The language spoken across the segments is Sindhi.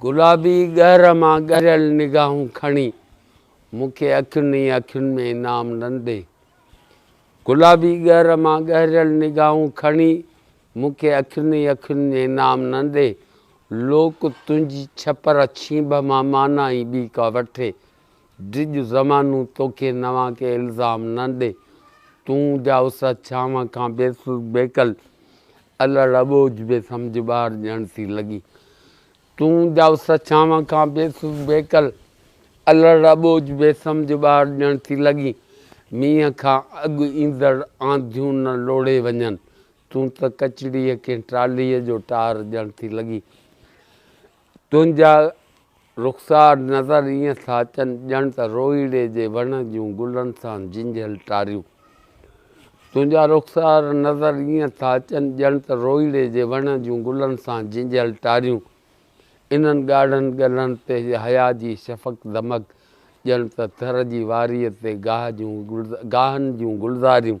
گلابي ڳهر مان ڳريل نگاهون کڻي مون کي اکين ئي اکين ۾ انعام ڏندي گلابي ڳهر مان ڳهريل نگاهون کڻي مون کي اکين ئي اکين ۾ انعام ڏندي لوڪ تنهنجي ڇپر ڇينڀ مان مانا ئي ٻي ڪا وٺي ڊڄ زمانو توکي نوان ڪي الزام ڏندي تون جا اس ڇانو کان بيسل بيڪل الڙ اٻوجھ بي سمجھ ٻار ڄڻ ٿي لڳي تون ڄائوس ڇانو کان بي سوز بيڪل الڙ اٻوجھ بي سمجھ ٻار ڄڻ ٿي لڳي مينهن کان اڳ ايندڙ آنڌيون نه لوڙهي وڃن تون ته ڪچڙيء ڪنهن ٽالهيء جو ٽار ڄڻ ٿي لڳي تنهنجا رخسار نظر ائين ٿا اچن ڄڻ ته روئيڙي جي وڻ جون گلن سان جنجهيل ٽاريون. تنهنجا رخسار نظر ائين ٿا اچن ڄڻ ته روئيڙي جي وڻ جون گلن سان جنجهيل ٽاريون. انهن ڳاڙهن ڳلن تي حيا جي شفق دمڪ ڄڻ ته ٿر جي واريء تي گاهه جون گاهن جون گلزاريون.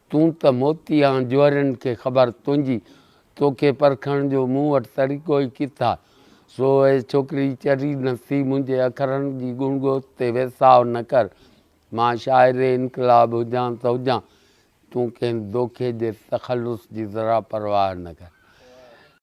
تون ته موتي آن جوهرين کي خبر تنهنجي، توکي پرکڻ جو مون وٽ طريقو ئي ڪٿا. سو اي ڇوڪري چري نه ٿي منهنجي اکرن جي گڻگوت تي ويساء نه ڪر. مان شاعر انقلاب هجان ته هجان، تون ڪنهن دوکي جي تخلص جي ذرا پرواهه نه ڪر.